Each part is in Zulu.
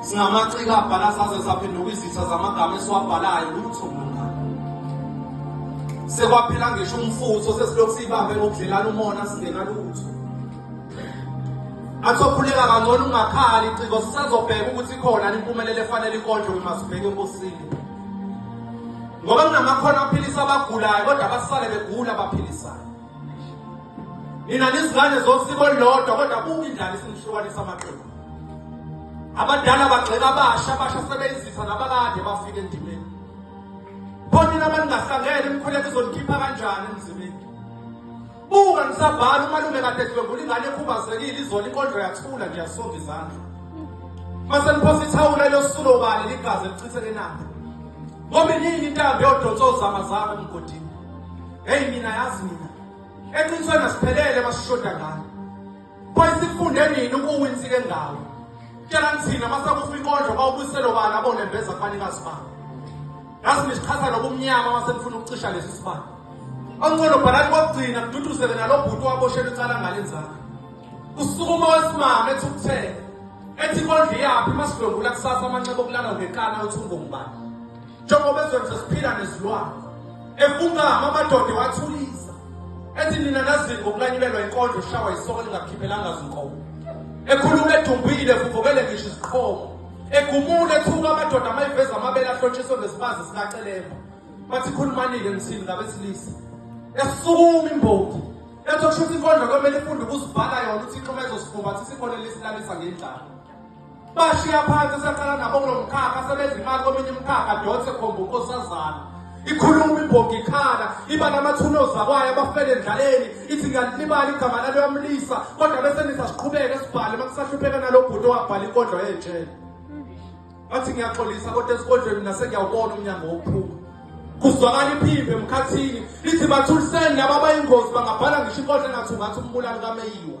singamaciko abhala saze saphenduka izitha zamagama esiwabhalayo lutho sekwaphela ngisho umfutho sesilokhu siyibambe ngokudlelana umona singena lutho athophuleka kangcono ungakhali iciko sisazobheka ukuthi khona impumelelo efanele ikonjwe uma sibheke enkosini ngoba kunamakhono aphilisa abagulayo kodwa abasale begula abaphilisayo nina nizingane zosiko olulodwa kodwa buka indlala isinihlukanisa amaqembu abadala bagxeka abasha abasha sebeyizitha nabakade bafike endimeni pho nina abaningahlangene imikhuleko izonikhipha kanjani emzimini buka nisabhala umalume kade dlwengula ingane ekhubazekile izona inkondlo yathula ngiyasonga izandla mase niphosa ithawula elosulo ubani ligazi elichitheke nabo ngoba iningi intambo yodonsa ozama zabo emgodini Hey mina yazi mina. Eqinisweni asiphelele basishoda ngani. Boy sifunde nini ukuwinsi ke ngawo. Tshela ngithina masakufa inkondlo bawubuselo bani abone veza kubanikazi babo. Yazi nisichaza lokumnyama masenifuna ukucisha lesi sibani. Oncono bhalani kokugcina kududuzele nalobhuti waboshela icala ngalenzaka. Usukuma wesimame ethi ukuthela. Ethi inkondlo iyaphi masidlwengula kusasa amanxeba okulala ngeqana uthi ungongubani. njengoba ezweni sesiphila nezilwane efunkama amadoda ewathulisa ethi nina nazini ngokulanyulelwa inkondlo ushawa isoko lingakhiphelanga zinkomo ekhuluma edumbile evuvukele ngisho iziqhomo egumule ethuka amadoda amayiveza amabele ahlotshiswe ngesibazi sikacelemba bathi khulumanike ngithini ngabesilisa esukuma imbongi ethi okusho ukuthi inkondlo kwemele ifunde ukuzivala yona uthixo uma ezosifuba athi sikhona lesilalisa ngendlala bashiya phansi esaqala nabo kulo mkhakha sebenza imali kominye imkhakha donse khomba unkosazana ikhuluma ibhoga ikhala iba namathunozi akwayo abafele endlaleni ithi ngalilibali igama laleyo amlisa kodwa bese nisa siqhubeke sibhale uma kusahlupheka nalo bhuti owabhala inkondlo yejele athi ngiyaxolisa kodwa esikodlweni nase ngiyawubona umnyango wokuphuma kuzwakala iphimbo emkhathini lithi bathuliseni laba abayingozi bangabhala ngisho inkondlo engathi ungathi umbulali kameyiwa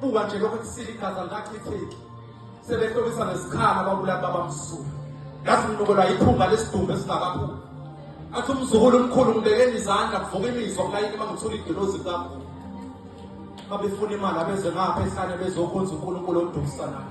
buka nje lokho kusile igazi alikachitheki sebehlobisa ngesikhala babulali babamsulu yazi nginokelwa yiphunga lesidumbu esingakaphumi athi umzukulu omkhulu ngibekeni izandla kuvuka imizwa kulayini uma ngithula idilozi likakhulu babefuna imali abeze ngapha ehlane bezokhonza unkulunkulu odukisanayo